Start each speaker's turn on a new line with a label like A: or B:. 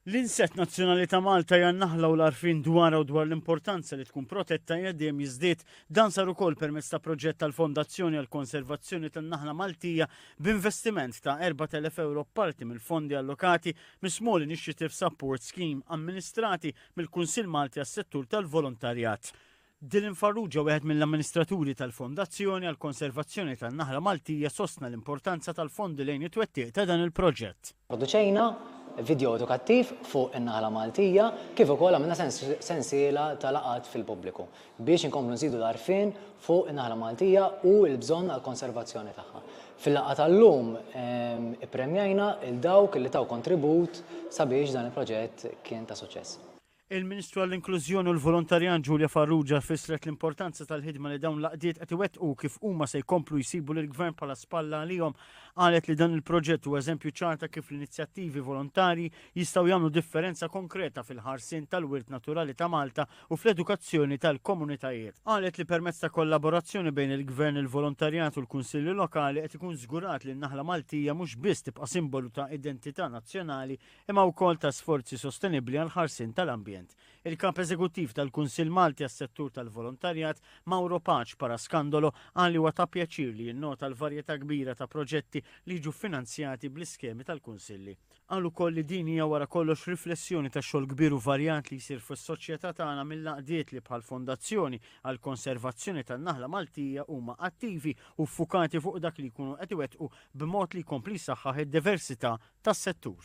A: L-insett nazzjonali ta' Malta hija n-naħla u l-għarfien dwarha u dwar l-importanza li tkun protetta qiegħed dejjem jiżdied. Dan sar ukoll permezz ta' proġett tal-Fondazzjoni għall-Konservazzjoni tan-Naħla Maltija b'investiment ta' 4,000 ewro b'parti mill-fondi allokati mis-Small Initiatives Support Scheme amministrati mill-Kunsill Malti għas-Settur tal-Volontarjat. Dylan Farrugia, wieħed mill-amministraturi tal-Fondazzjoni għall-Konservazzjoni tan-Naħla Maltija sostna l-importanza tal-fondi lejn it-twettiq ta' dan il-proġett. Pproduċejna
B: vidjow edukattiv fuq in-Naħla Maltija kif ukoll għamilna sensiela ta' laqgħat fil-pubbliku biex inkomplu nżidu l-għarfien fuq in-Naħla Maltija u l-bżonn għall-konservazzjoni tagħha. Fil-laqgħa tal-lum ippremjajna 'l dawk li taw kontribut sabiex dan il-proġett kien ta' suċċess. Il-Ministru
A: għall-Inklużjoni u l-Volontarjat Julia Farrugia fissret l-importanza tal-ħidma li dawn l-għaqdiet qed iwettqu kif huma se jkomplu jsibu lill-Gvern bħala spalla għalihom. Qalet li dan il-proġett huwa eżempju ċar ta' kif l-inizjattivi volontarji jistgħu jagħmlu differenza konkreta fil-ħarsien tal-wirt naturali ta' Malta u fl-edukazzjoni tal-komunitajiet. Qalet li permezz ta' kollaborazzjoni bejn il-Gvern, il-volontarjat u l-Kunsilli Lokali qed ikun żgurat li n-naħla Maltija mhux biss tibqa' simbolu ta' identità nazzjonali imma wkoll ta' sforzi sostenibbli għall-ħarsien tal-ambjent. Il-Kap Eżekuttiv tal-Kunsill Malti għas-Settur tal-Volontarjat, Mauro Pace Parascandolo, qal li huwa ta' pjaċir li jinnota l-varjetà kbira ta' proġetti li jiġu ffinanzjati bl-iskemi tal-Kunsilli. Qal ukoll li din hija wara kollox riflessjoni tax-xogħol kbir u varjat li jsir fis-soċjetà tagħna mill-għaqdiet li bħall-Fondazzjoni għall-Konservazzjoni tan-Naħla Maltija huma attivi u ffukati fuq dak li jkunu qed iwettqu b'mod li jkompli jsaħħaħ id-diversità tas-settur.